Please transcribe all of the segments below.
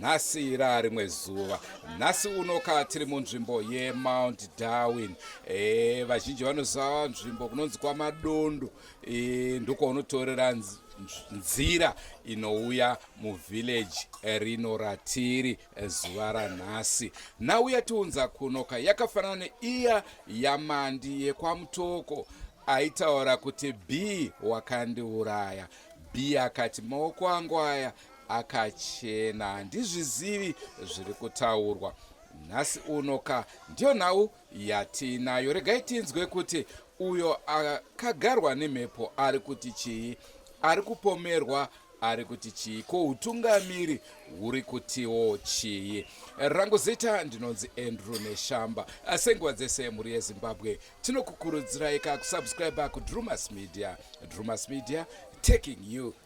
nhasi raarimwe zuva nhasi unoka tiri munzvimbo yemount darwin e, vazhinji vanoziva nzvimbo kunonzi kwamadondo e, eh, ndoko unotorera nzira inouya muvillage eh, rino ratiri eh, zuva ranhasi nhau yatiunza kunoka yakafanana neiya yamandi yekwamutoko aitaura kuti b wakandiuraya b akati maoko angu aya akachena handizvizivi zviri kutaurwa nhasi uno ka ndiyo nhau yatiinayo regai tinzwe kuti uyo akagarwa nemhepo ari kuti chii ari kupomerwa ari kuti chii ko utungamiri huri kutiwo chii rangu zita ndinonzi andrew neshamba senguva dzese mhuri yezimbabwe tinokukurudziraika kusubscribe kudrumas media drumas media taking you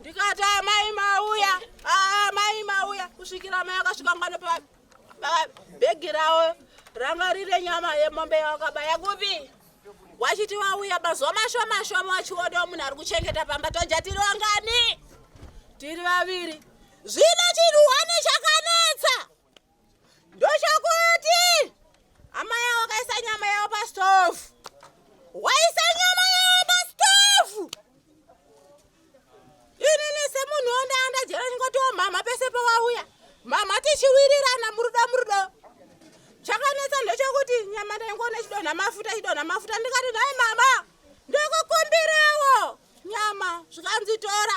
ndikati amai mauya amai ah, mauya kusvikira amai akasvika ngano pabhegi ravo ranga riri nyama yemombe yawakabaya kupi wachiti wauya mazuva mashoma shoma wachionawo munhu ari kuchengeta pamba toja tiri wangani tiri vaviri zvino chinhu hwani chakanetsa ndoshakuti amai avo kaisa nyama yavo pastove waisa nyama yavo pastove inini semunhu ondaanda jera ndingotiwo mhamha pese pawauya mhamha tichiwirirana murudo murudo chakanetsa ndochokuti nyama ndaingoona chidonha mafuta chidonha mafuta ndikati nhai mama ndokukumbirawo nyama zvikanzitora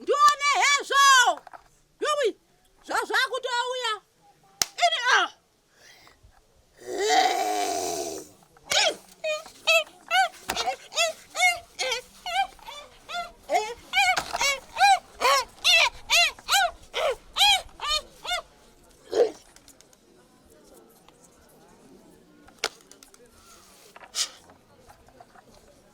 ndione hezvo yowi zvazvakutouya ini ah.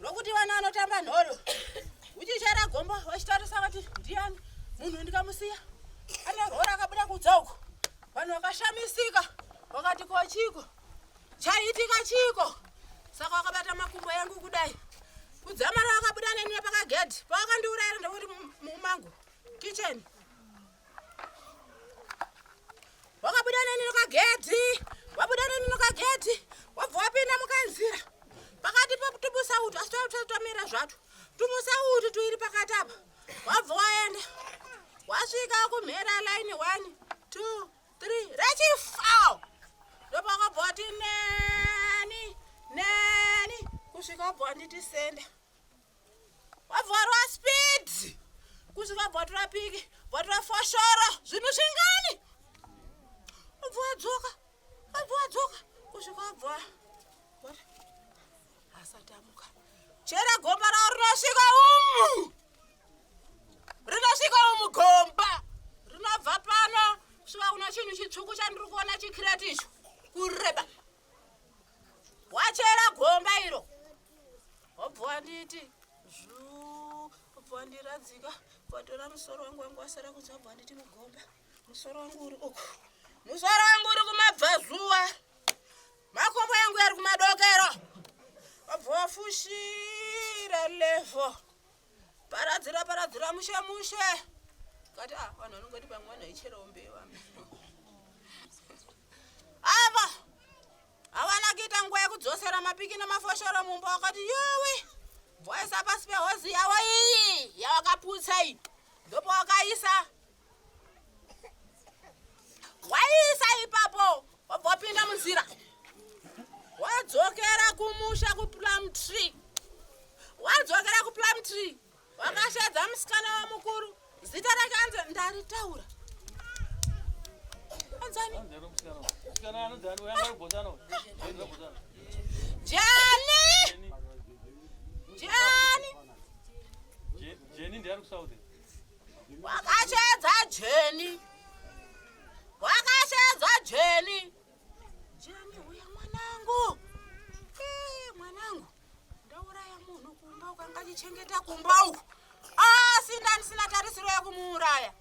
rokuti vana vanotamba nhoro uchichera gombo vachitarisa vati ndiyani munhu ndikamusiya anorhora akabuda kudza uko vanhu vakashamisika vakati ko chiko chaiitika chiko saka wakabata makumbo yangu kudai kudzamara wakabuda neni nepakagedhi pawakandiurayira ndokuti mumangu kicheni wakabuda neni nokagedhi wabuda neni nokagedhi wabva wapinda mukanzira pakati pokutubusa utu asi twamira zvato tumusa utu tuiri pakati apa wabva waenda wasvika kumhera line one two three rechifao ndopakabva wati neni neni kusvika wabva wanditi senda wavharwa speed kuzi vabva vatora piki vatora foshoro zvinhu zvingani wabva wadzoka wabva wadzoka kusvika wabva asati amuka chera gomba ravo rinosvika umu rinosvika umu gomba rinobva pano kusvika kuna chinhu chitsvuku chandiri kuona chikireti icho kureba wachera gomba iro wobva wanditi zvuu wobva wandiradzika watora musoro wangu wangu wasara kudza wobva wanditi mugomba musoro wangu uri uku musoro wangu uri kumabvazuva makombo yangu yari kumadokero wobva wafushira levo paradzira paradzira mushe mushe kati ah vanhu vanongoti pamwe vanhu vaicherawo mbewa ava havana kuita nguva yekudzosera mapiki nemafoshoro mumba wakati yowe bwaisa pasi pehozi yavo iyi yavakaputsa iyi ndopawakaisa waiisa ipapo wobva wapinda munzira wadzokera kumusha kuplum tree wadzokera kuplum tree wakashedza musikana wamukuru zita rake anzi ndaritaura anzani jani jani jani ndiari kusauthi Wakashedza Jeni. Wakashedza Jeni. Jeni uya mwanangu. Eh, mwanangu. Ndauraya munhu kumba ukangachichengeta kumba uku. Asi ah, ndanisina tarisiro yekumuuraya.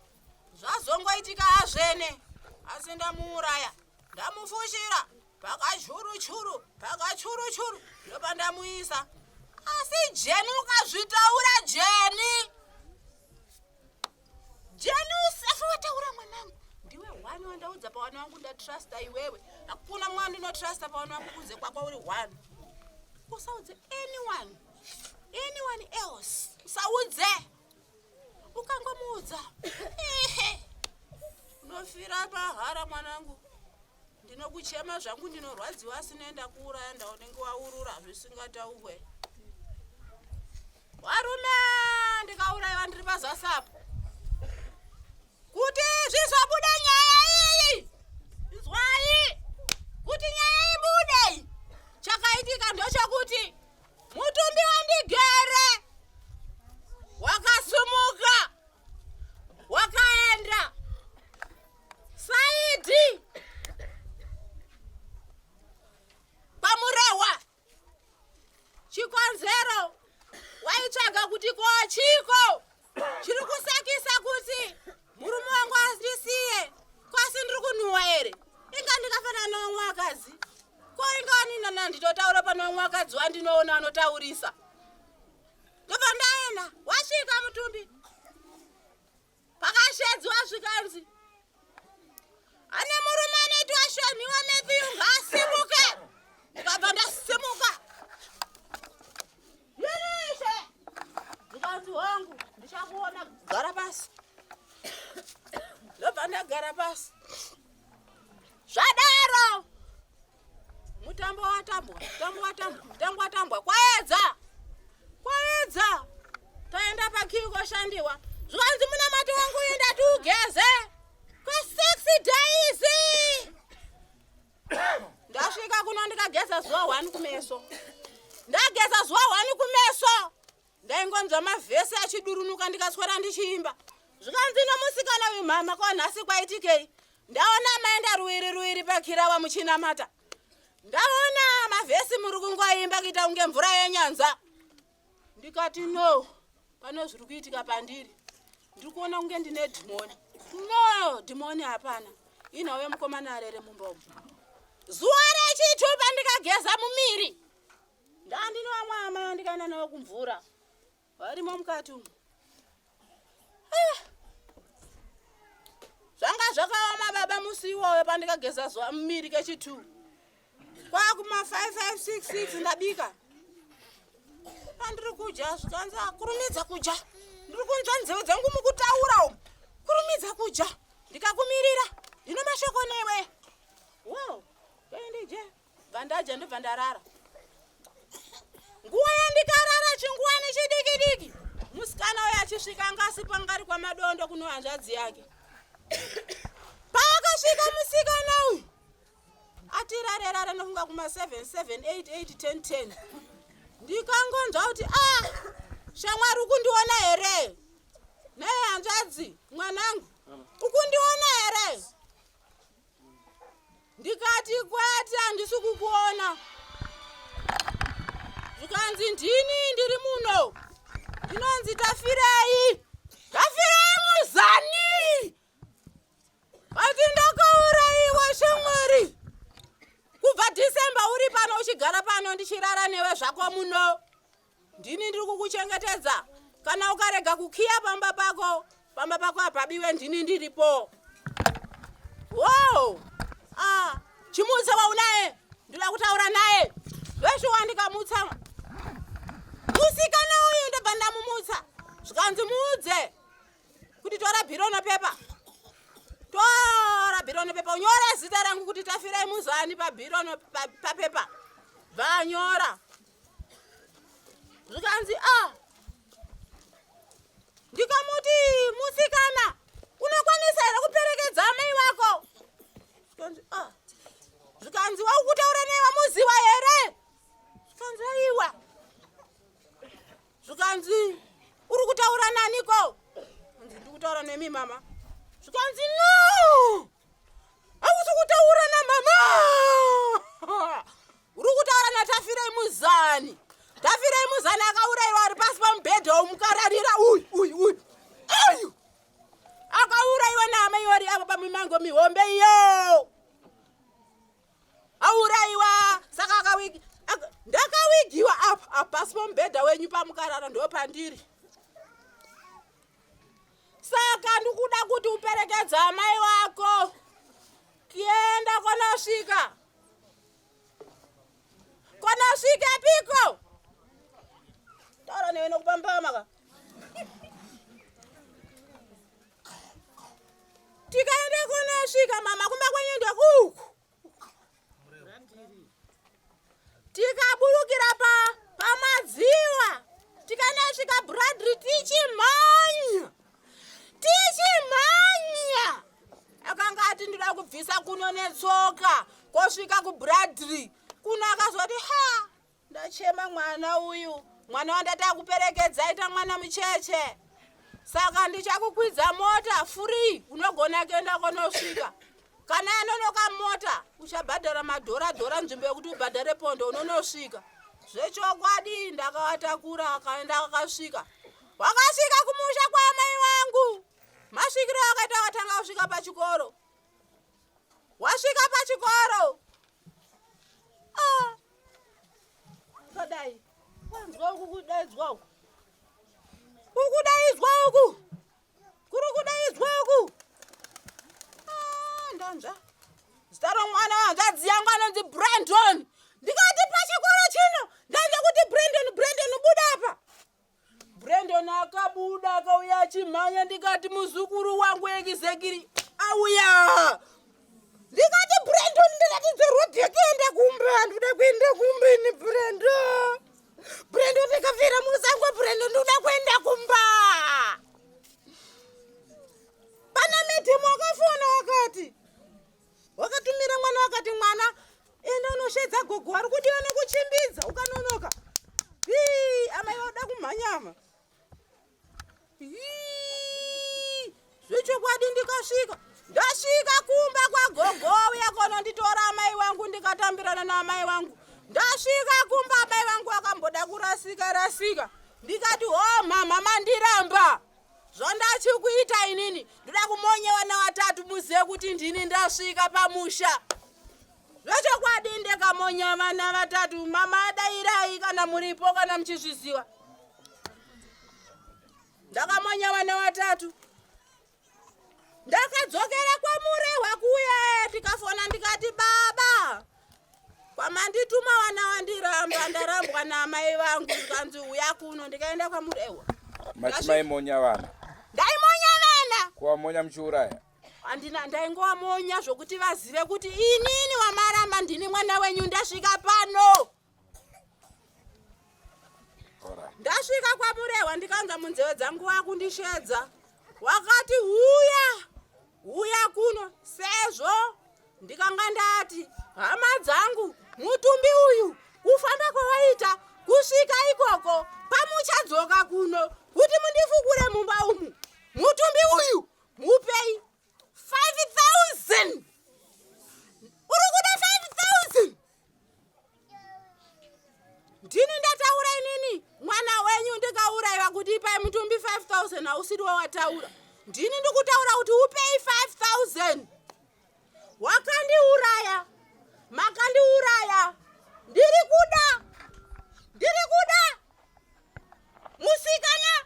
Zvazongoitika hazvene. Asi ndamuuraya. Ndamufushira. pakachuru-churu pakachuru-churu ndopandamuisa asi jeni ukazvitaura jeni jeni usafe wataura mwanangu ndiwe one wandaudza pawana wangu ndatrusta iwewe hakuna mwana ndinotrusta pawana wangu kunze kwako uri one usaudze anyone anyone else usaudze ukangomuudza ehe unofira pahara mwanangu ndinokuchema zvangu ndinorwadziwa asi noenda kuuraya ndaunenge waurura zvisingataurwe warume ndikaurayiwa ndiri pazasi apo kuti zvizobuda nyaya iyi izwai kuti nyaya ibudei chakaitika ndochokuti mutumbi wandigere wakasumuka wakaenda Saidi! Pamurehwa! Chikonzero waitsvaga kuti ko chiko chiri kusakisa kuti murume wangu andisiye kwasi ndiri kunhuwa here inga ndikafanana nomwe akazi ko inga waninana nditotaura pane wamwe akadzi wandinoona anotaurisa ndobva ndaenda wasvika mutumbi pakashedzwa zvikanzi ane murume anoitwa shonhiwa matthew ngaasimuke ndikabva ndasimuka yereshe ndikanzi hongu ndichakuona gara pasi ndobva ndagara pasi zvadaro Mutambo watambwa, mutambo watambwa, mutambo watambwa. Kwaedza! Kwaedza! Taenda pakiwi koshandiwa. Zvanzi munamati wangu enda tiugeze. Kwa sexy days. Ndasvika kuno ndikageza zuva 1 kumeso. Ndageza zuva 1 kumeso. ndaingonzwa mavhesi achidurunuka ndikaswera ndichiimba zvikanzi nomusikana uyu mhama ko nhasi kwaitikei ndaona amaenda ruiri ruiri pakirawa muchinamata ndaona mavhesi muri kungoimba kuita kunge mvura yenyanza ndikati no pane zviri kuitika pandiri ndiri kuona kunge ndine dhimoni no dhimoni hapana inhauye mukomana arere mumba umu zuva rechitupa ndikageza mumiri ndandinowamwa amai andikaenda nawo kumvura varimo mukati umu ah! zvanga zvakaoma baba musi iwoyo pandikageza zuva mumiri kechitwo kwakuma 5566 ndabika andiri kudya zvikanzi akurumidza kudya ndiri kunzwa nzeve dzangu mukutaura umu kurumidza kudya ndikakumirira ndino mashoko newe wo kaindije wow. bvandadya ndobva ndarara nguva yandikarara chingwani chidiki diki musikana uyo achisvika anga asi pangari kwamadondo kuno hanzvadzi yake paakasvika musikana uyu atirarerare nofunga kuma 77881010 ndikangonzva kuti a ah, shamwari ukundiona here naye hanzvadzi mwanangu ukundiona here ndikati kwete handisi kukuona zvikanzi ndini ndiri muno ndinonzi tafirei tafirei muzani vati ndakauraiwa shamwari kubva december uri pano uchigara pano ndichirara newe zvako muno Ndini ndiri kukuchengetedza. Kana ukarega kukiya pamba pako, pamba pako hapabiwe ndini ndiripo. Wow! Ah, chimutsa waunaye. Ndoda kutaura naye. Veshe wandikamutsa. Musikana uyu ndobva ndamumutsa. Zvikanzi muudze kuti tora bhiro nepepa. Tora bhiro nepepa. Unyore zita rangu kuti Tafirai Muzani pabhiro no- pa- papepa. Vanyora. zvikanzi a ah, ndikamuti musikana unokwanisa here kuperekedza amai vako zvikanzi a ah, zvikanzi waukutaura nei vamuziva here zvikanzi aiwa zvikanzi uri kutaura naniko anzi ndi kutaura nemi mama zvikanzi no hausi kutaura namama Uri kutaura naTafirei Muzani. Tafirei Muzani akauraiwa ari pasi pamubhedha womukararira uyu uyu uyu. Uyu. Akauraiwa naamai wari avo pamimango mihombe iyo. Auraiwa saka akawigi. ak- Ndakawigiwa apa apa pasi pamubhedha wenyu pamukarara ndopandiri. saka ndikuda kuti uperekedza amai vako kienda kwanosvika kwanosvika piko taura newe nokupambama ka tikaende kunosvika mama kumba kwenyu ndokuku tikaburukira pa pamadziva tikanasvika bradry tichimhanya tichimhanya akanga ati ndida kubvisa kuno netsoka kosvika kubradry kuno akazoti ha Ndachema mwana uyu, mwana wandataka kuperekedza aita mwana mucheche. Saka ndichakukwidza mota free, unogona kuenda kwanosvika. Kana yanonoka mota, uchabhadhara madhora dhora nzvimbo yekuti ubhadhare pondo unonosvika. Zvechokwadi ndakawatakura akaenda akasvika. Wakasvika kumusha kwaamai wangu. Masvikiro akaita akatanga kusvika pachikoro. wasvika pachikoro ah. akadai kwanzwa uku kudaidzwa uku ukudaidzwa uku kuri kudaidzwa uku ah, ndanzva zita romwana wahanzvadzi yangu anonzi brandon ndikati pachikoro chino ndanzva kuti brandon brandon buda apa Brandon akabuda akauya achimhanya ndikati muzukuru wangu ekizekiri auya ndikati Brandon ndiratidze road yekuenda kumba handida kuenda kumba ini Brandon Brandon ndikafira musango Brandon ndikuda kuenda kumba pana medhemu akafona akati wakatumira mwana wakati mwana enda unoshedza gogo wari kudiwa nekuchimbidza ukanonoka ii amai vauda kumhanyama zvechokwadi ndikasvika ndasvika kumba kwagogo uya kononditora amai wangu ndikatambirana naamai wangu ndasvika kumba amai vangu akamboda kurasika rasika ndikati ho mhamha mandiramba zvandachikuita inini ndoda kumonyewa nawatatu muzive kuti ndini ndasvika pamusha zvechokwadi ndekamonya vana vatatu mama adairai kana muripo kana muchizviziva ndakamonya vana vatatu ndakadzokera kwamurehwa kuye tikafona ndikati baba kwamandituma wana wandiramba ndarambwa namai vangu zvikanzi uya kuno ndikaenda kwamurehwa mati maimonya vana ndaimonya vana kuvamonya muchiuraya andina ndaingovamonya zvokuti vazive kuti inini wamaramba ndini mwana wenyu ndasvika pano ndasvika kwamurehwa ndikanza munzeve dzangu wakundishedza wakati huya huya kuno sezvo ndikanga ndati hama dzangu mutumbi uyu kufamba kwawaita kusvika ikoko pamuchadzoka kuno kuti mundifukure mumba umu mutumbi uyu mupei 5000 uri kuda 5000 ndini ndataura inini mwana wenyu ndikauraiva kuti ipai mutumbi 5000 hausiri wawataura ndini ndikutaura kuti upei 5000 wakandiuraya makandiuraya ndiri kuda ndiri kuda musikana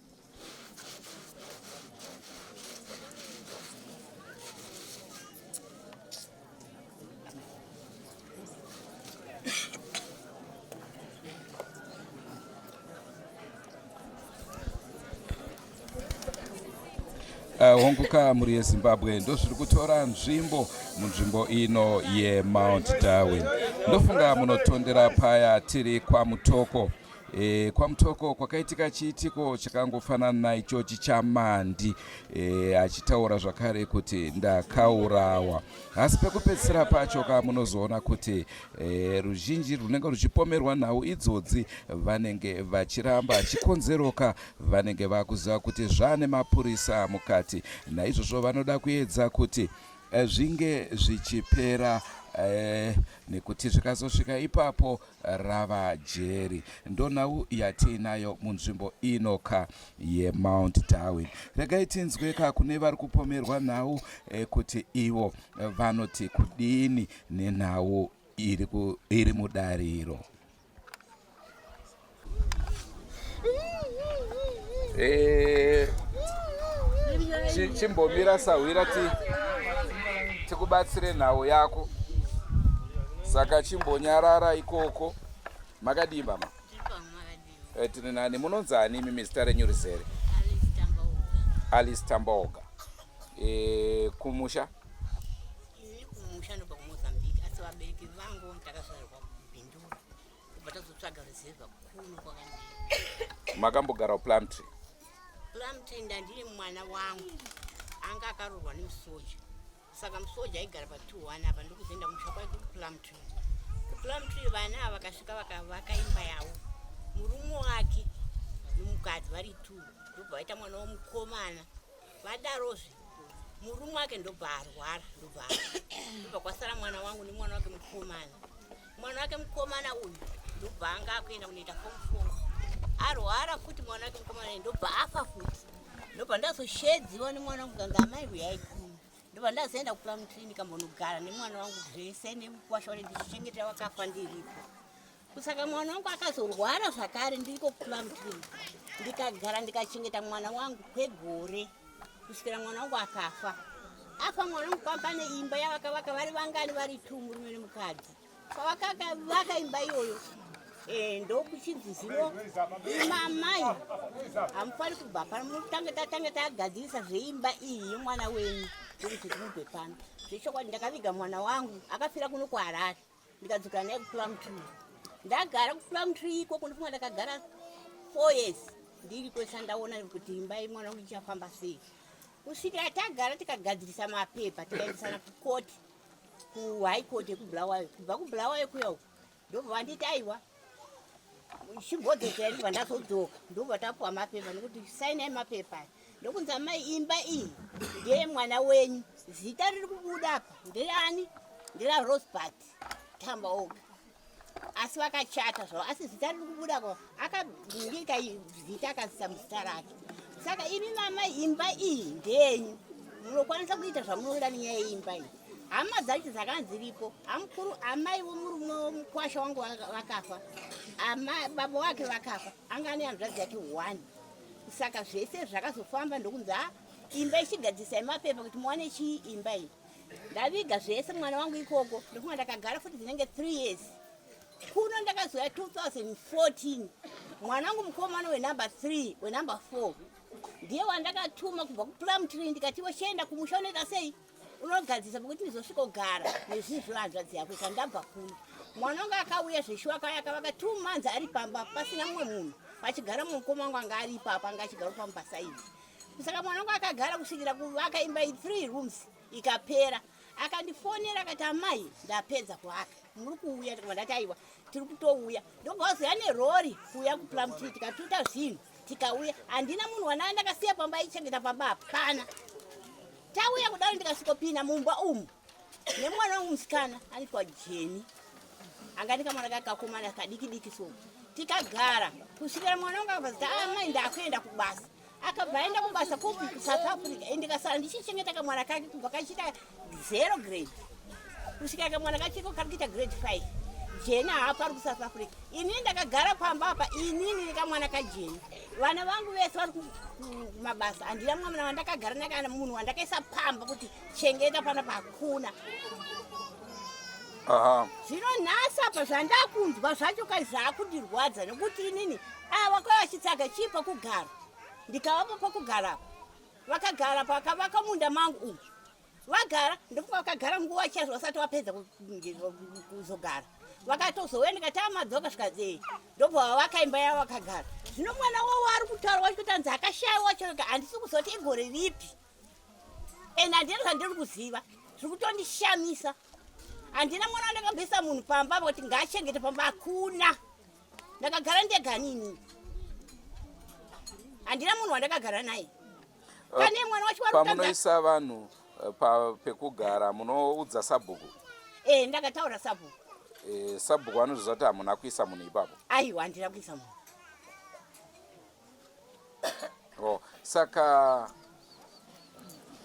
Eh, hongu ka mhuri yezimbabwe ndozviri kutora nzvimbo munzvimbo ino yemount darwin ndofunga munotondera paya tiri kwamutoko E, kwaMutoko kwakaitika chiitiko chakangofanana naichochi chamandi e, achitaura zvakare kuti ndakaurawa asi pekupedzisira pacho ka munozoona kuti e, ruzhinji runenge ruchipomerwa nhau idzodzi vanenge vachiramba chikonzeroka vanenge vakuziva kuti zvaane mapurisa mukati naizvozvo vanoda kuedza kuti e, zvinge zvichipera e, nekuti zvikazosvika ipapo rava jeri ndonhau yatiinayo munzvimbo ino ka yemount darwin regai tinzwe ka kune vari kupomerwa nhau eh, kuti ivo vanoti kudini nenhau iri, ku, iri mudariro Eh, chimbomira sahwira ti tikubatsire nhau yako saka chimbonyarara ikoko makadii mama eh, tiri nani munonzi ani imi mizita renyu rizere alice tambaoga eh, kumusha kubva tazotsvaga reserva kuno kwakandii makambogarawo plumtree plumtree ndandiri mwana wangu anga akarorwa nemusoja saka musoja aigara pa 21 apa ndikuzoenda kumusha kwake kuplumtree kuplumtree vana ava vakasvika vakavaka imba yavo murume wake nomukadzi vari two ndobva vaita mwana womukomana vadarozve murume wake ndobva arwara ndobva ndobva kwasara mwana wangu nemwana wake mukomana mwana wake mukomana uyu ndobva anga akuenda kunoita form four arwara futi mwana wake mukomana uyu ndobva afa futi ndobva ndazoshedziwa nemwana wangu kanga amai kuyaikuma ndobva ndazoenda kupuramu clinic ambonogara nemwana wangu zvese nekukwasha wane ndichichengetera wakafa ndiripo kusaka mwana wangu akazorwara zvakare ndiriko kupuramu clinic ndikagara ndikachengeta mwana wangu kwegore kusvikira mwana wangu akafa afa mwana wangu pamba neimba yavakavaka vari vangani vari two murume nemukadzi pavakavaka imba iyoyo eh, ndokuchinzi zino imamai hamufani kubva pano mutange tatange tagadzirisa zveimba iyi yemwana wenyu ndokuti timubve pano zvechokwadi ndakaviga mwana wangu akafira kuno kuharare ndikadzoka naye kuplum tree ndagara kuplum tree ikoko ndifunga ndakagara four years ndiriko sandaona kuti imba yemwana wangu ichafamba sei kusvikira tagara tikagadzirisa mapepa tikaendesana kukoti kuhigh court yekubulawayo kubva kubulawayo kuya uku ndobva vanditi aiwa chimbodzokera ndibva ndazodzoka ndobva tapuwa mapepa nekuti sainai mapepa aya ndokunzi amai imba iyi ndeye mwana wenyu zita riri kubuda apa ndeani ndera rosbert tamba oga asi vakachata zvavo asi zita riri kubuda ko akabingika zita akazisa muzita rake saka imi mamai imba iyi ndeyenyu munokwanisa kuita zvamunoda nenyaya yeimba iyi hama dzacho dzakanziripo amukuru amai vomurume womukwasha wangu vakafa baba wake vakafa anga ane hanzvadzi yake one saka zvese zvakazofamba ndokunzi a imba ichigadzisa yemapepa kuti muwane chii imba iyi ndaviga zvese mwana wangu ikoko ndokuma ndakagara futi dzinenge three years kuno ndakazouya 2014 mwana wangu mukomana wenumber three wenumber four ndiye wandakatuma kubva kuplumtree ndikatiwo chienda kumusha unoita sei unogadzisa pokuti ndizosvikogara nezvinhu zvevanzvadzi yako ikandabva kuno mwana wangu akauya zveshuwa kaya akavaka two months ari pamba pasina mumwe munhu pachigara mumukoma wangu anga ari ipapa anga achigara pamupasaidi saka mwana wangu akagara kusvikira kuvaka imba i three rooms ikapera akandifonera akati amai ndapedza kuvaka muri kuuya tikavandati aiwa tiri kutouya ndogauziva nerori kuuya kuplamtri tikatuta zvinhu tikauya handina munhu wanaa ndakasiya pamba aichengeta pamba hapana Tauya kudaro ndikasvikopinda mumba umu nemwana wangu musikana aitwa Jeni anga ndikamwana kake kakomana kadiki diki so tikagara kusvikira mwana wangu akabva zita amai ah, ndakuenda kubasa akabva aenda kubasa kupi kusouth africa ende kasara ndichichengeta kamwana kake kubva kachiita zero grade kusvika kamwana kachiko kari kuita grade five jeni haapo ari kusouth africa inini ndakagara pamba apa inini nekamwana kajeni vana vangu vese vari kumabasa handina mwamana wandakagara naye kana munhu wandakaisa pamba kuti chengeta pana pakuna zvino nhasi apa zvandakunzwa zvacho kai zvakundirwadza nekuti inini ava kwai vachitsvaga chii pakugara ndikavapa pakugara apa vakagara pakavaka munda mangu umu vagara ndofunga vakagara nguva chaizvo vasati vapedza kuzogara vakatozouya ndikati amadzoka zvikadzei ndobva vavaka imba yavo vakagara zvino mwana wavo ari kutaura wacho kuti anzi akashaiwa choka handisi kuzoti igore ripi and handina zvandiri kuziva zviri kutondishamisa handina mwana wandakabvisa munhu pamba apa kuti ngaachengete pamba hakuna ndakagara ndeganini handina munhu wandakagara naye uh, pamunoisa vanhu uh, pekugara munoudza sabhuku eh, ndakataura sabhuku eh, sabhuku anozviziva kuti hamuna kuisa munhu ipapo aiwa handina kuisa munhu oh, saka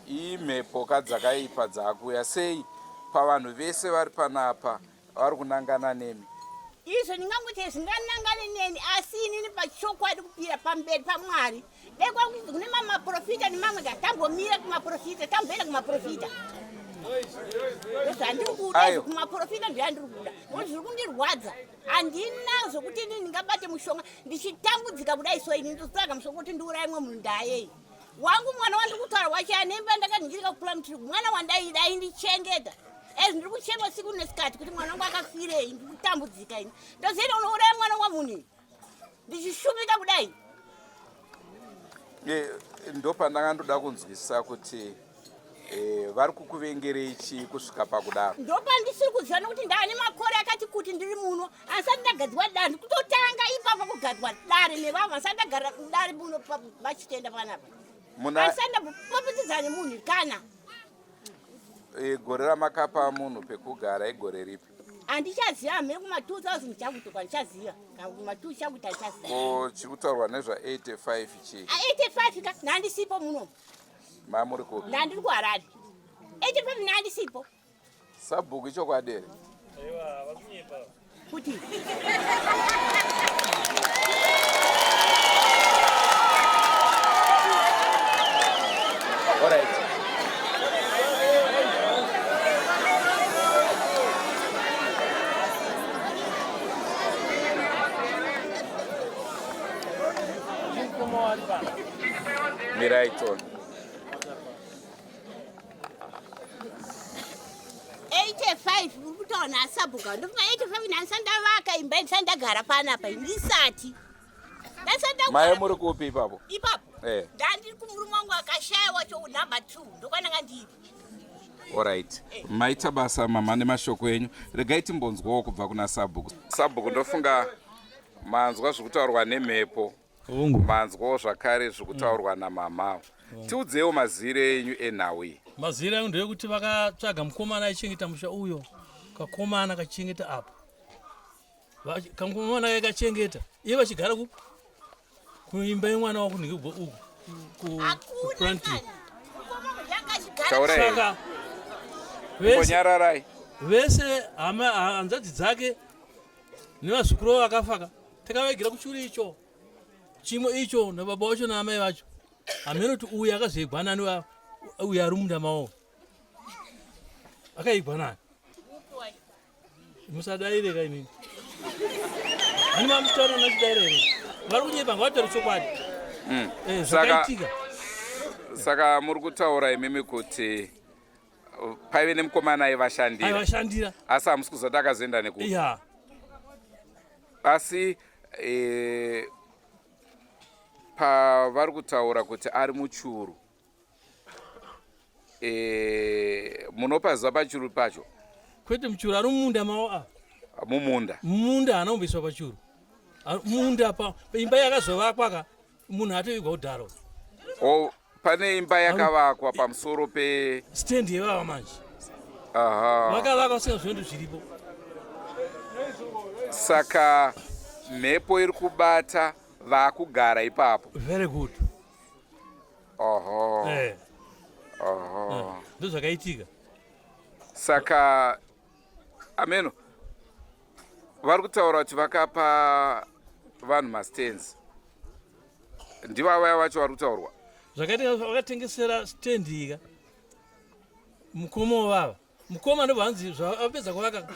imhepo kadzakaipa dzakuya sei pavanhu vese vari panapa vari kunangana nemi izvo ndingangoita zvinganangane neni asi inini pachokwadi kupira pamberi pamwari dai kwakuti kune mamwe maprofita nemamwe ka tambomira kumaprofita tamboenda kumaprofita zvandiri kuda kumaprofita zvandiri kuda nokuti zviri kundirwadza handina zvokuti ini ndingabate mushonga ndichitambudzika kudai so ini ndotsvaga mushonga kuti ndiuraye mwe munhu ndayei wangu mwana wandiri kutaura wacho anemba ndakaningirika kukula mutiri mwana wandaida aindichengeta as ndiri kuchema siku nesikati kuti mwana wangu akafirei ndiri kutambudzika ini ndozoita unouraya mwana wamunhu ndichishumika kudai ndopandanga ndoda kunzwisisa kuti Eh, vari kukuvengerei chii kusvika pakudaro ndopandisiri kuziva nokuti ndaane makore akati kuti ndiri muno asati ndagadzirwa dare ndikutotanga ipapo kugadzwa dare nevavo vasati ndagarira kudare muno vachitenda panapa asati ndapopitidzana nemunhu kana eh, gore ramakapa munhu pekugara igore ripi handichaziva hamene kuma 2000 chakutoka ndichaziva kuma 2 chakuita ndichaziva ko chiri kutaurwa nezva 85 chii 85 ka nhandisipo muno mamuri kupi ndandiri kuharare eche pamwe nandisipo sabhuku ichokwadi here kuti Mirai tsono. kutaona asabhuka ndofunga 85 ndandisa ndavaka imba ndisa ndagara panapa ndisati maye muri kupi ipapo ipapo eh. ndandiri kumuri mwangu akashaya wacho number 2 ndokwananga ndiri orit eh. maita basa mama nemashoko enyu regai timbonzwawo kubva kuna sabhuku sabhuku ndofunga manzwa zvekutaurwa nemhepo Hongu. Manzwawo zvakare zviri kutaurwa mm. namamha. Tiudzewo mazire enyu enhau iyi. Mazire angu ndeyekuti vakatsvaga mukomana aichengeta musha uyo kakomana kachengeta apo kamukomana kaye kachengeta iye vachigara kuimba yemwana wako nekubo uku kuprantaka vese hanzvadzi dzake nevazukuru vo vakafaka takavaigira kuchuri icho chimo icho nababa wacho naamai vacho hameno kuti uyu akazoigwa nani uyu ari munda mawo akaigwa nani musadaireka inini ani mamusitano nachidare here vari kunyepa ngavatori chokwadi hmm. eh, zvakaitika saka muri kutaura imimi kuti paive nemukomana aivashandiraaivashandira asi hamusi kuzoti akazoenda neku yeah. asi e, pavari kutaura kuti ari muchuru e, munopa ziva pachuru pacho kwete muchuru ari mumunda mao a mumunda mumunda haana kumboiswa pachuru munda pa imba yakazovakwa ka munhu atovigwa kudhara o pane imba yakavakwa pamusoro pe stand yevava manje vakavaka vasina zvinhu zviripo saka mhepo iri kubata vakugara ipapo very good oho eh. oho eh. ndozvakaitika saka ameno vari kutaura kuti vakapa vanhu mastands ndiva vaya vacho vari kutaurwa zvakatengavakatengesera stand ika mukomo vava mukoma ndobva hanzi zvavapedza kuvaka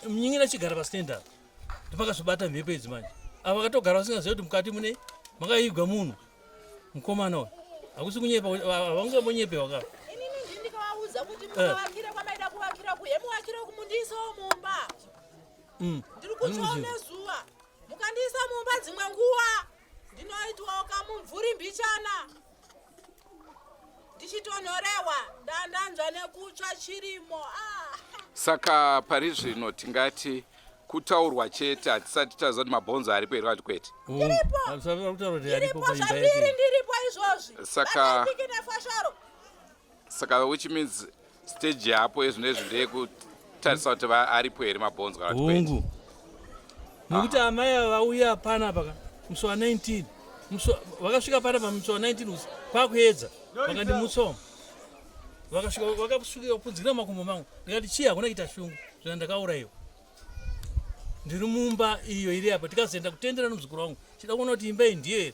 mnyin'ina chigara pastand apa ndopakazvibata mhepo idzi manje ava vakatogara vasingaziva kuti mukati mune makaigwa munhu Mkomana hakusi kunyepa haunge munyepe waka. Ini nini ndikawauza kuti eh. mukavakira kwamaida kuvakira kuye muvakira kumundiisa mumba. Mm. Ndiri kutsvaona zuva. Mukandiisa mumba dzimwe nguva ndinoitwa kamumvuri mbichana. ndichitonhorewa ndandanzwa nekutsva chirimo ah. saka pari zvino tingati kutaurwa chete hatisati taziva kuti mabhonzo aripo here kati kwete saka saka which means stage yapo ezvino ezvi ndeyekutarisa kuti aripo here mabhonzo kana hungu nokuti ah. amai ava vauya pana paka musi wa 19 vakasvika pana pa musi wa 19 usi kwakuedza vakandimutsoma vakasvika vakasvika kupunzikira makumbo mangu ndikati chii hakuna kuita shungu zvina ndakaurayiwa ndiri mumba iyo iri apa tikazoenda kutendera nomuzukuru wangu chida kuona kuti imba iyi ndiyo here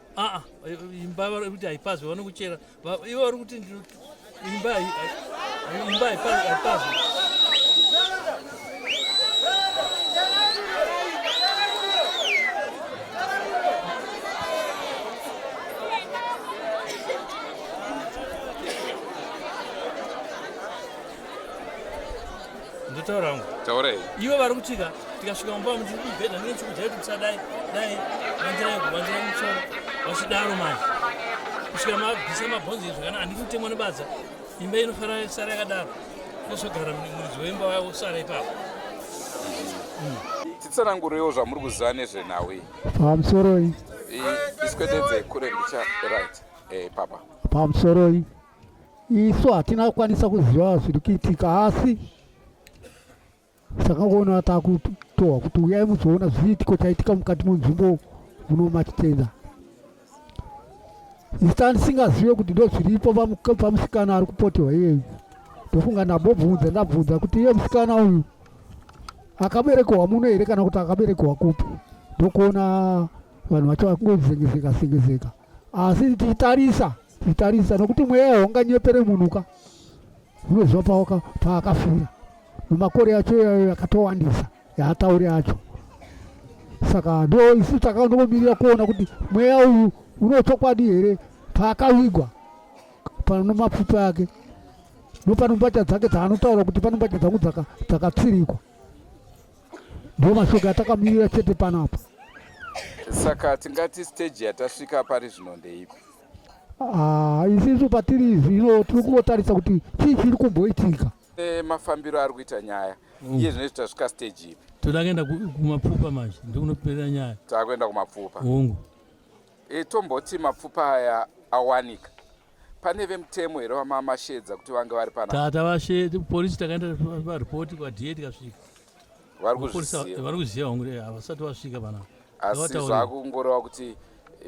aa imba vari kuti haipazwe vanokuchera ivo vari kuti imba imba haipazwe ndotaura hangu taurai ivo vari kutika tikasvika mumba vamuti ibhedha ndine chikudya kuti musadai dai vanzira yego vanzira mutsoro vachidaro manje kusvika mabvisa mabhonzi izvi kana handiti kutemwa nebadza imba inofanira sara yakadaro ndozogara muridzi wemba waya wosara ipapo titsanangureiwo zvamuri kuziva nezvenhau iyi pamusoroi iswededze kure ndicha right eh, papa pamusoroi isu hatina kukwanisa kuziva zviri kuitika asi takangoona takutohwa kuti uyai muzoona zviitiko chaitika mukati munzvimbo muno matitenda isitani singazive kuti ndo zviripo pamusikana ari kupotewa iyeyu ndofunga ndambobvunza ndabvunza kuti iye musikana uyu akaberekewa muno here kana kuti akaberekewa kupi ndokuona vanhu vacho vakungozengezeka sengezeka asi tichitarisa tichitarisa nokuti mweya haunganyepere munhu ka unoziva paoka paakafira nemakore yacho iyayo yakatowandisa yaatauri acho saka ndo isu takanongomirira kuona kuti mweya uyu unochokwadi here paakavigwa pano mapfupa yake nopano mbatya dzake dzaanotaura kuti pano mbatya dzangu dzakatsirikwa ndiwo mashoko atakamirira chete panapa saka tingati stage yatasvika pari zvino ndeipi ah, isisu patiri izvi ino tiri kungotarisa kuti chii chiri kumboitika e, mafambiro ari kuita nyaya mm. iye zvinoiti tasvika stage ipi toda kuenda kumapfupa manje ndikunoperera nyaya takuenda kumapfupa ungu e, tomboti mapfupa aya awanika Pane vemutemo here vamama Shedza kuti vange vari pana? Tata vashe police takaenda pa report kwa DA tikasvika. Vari kuzviziva. Vari kuziva hongu eh, havasati vasvika pana. Asi zvakungoreva kuti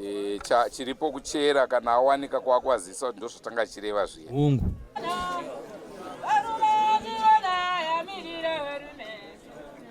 e, cha, chiripo kuchera kana awanika kwakwazisa kuti ndozvatanga chireva zviya. Hungu.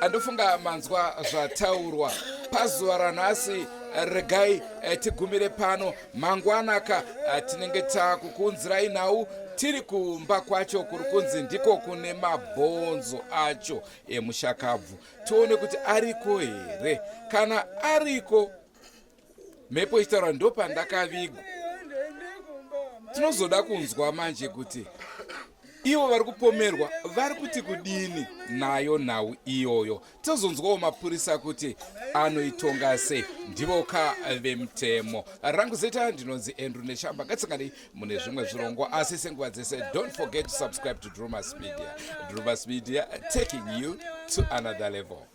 andofunga manzwa zvataurwa pazuva ranhasi regai eh, tigumire pano mangwanaka eh, tinenge takukuunzirai nhau tiri kumba kwacho kuri kunzi ndiko kune mabhonzo acho emushakabvu tione kuti ariko here kana ariko mhepo ichitaura ndopandakavigwa tinozoda kunzwa manje kuti ivo vari kupomerwa vari kuti kudini nayo nhau iyoyo tozonzwawo mapurisa kuti anoitonga sei ndivo ka vemutemo rangu zita ndinonzi andrew neshamba katsinganei mune zvimwe zvirongo asi senguva dzese don't forget to subscribe to drumas media drumas media taking you to another level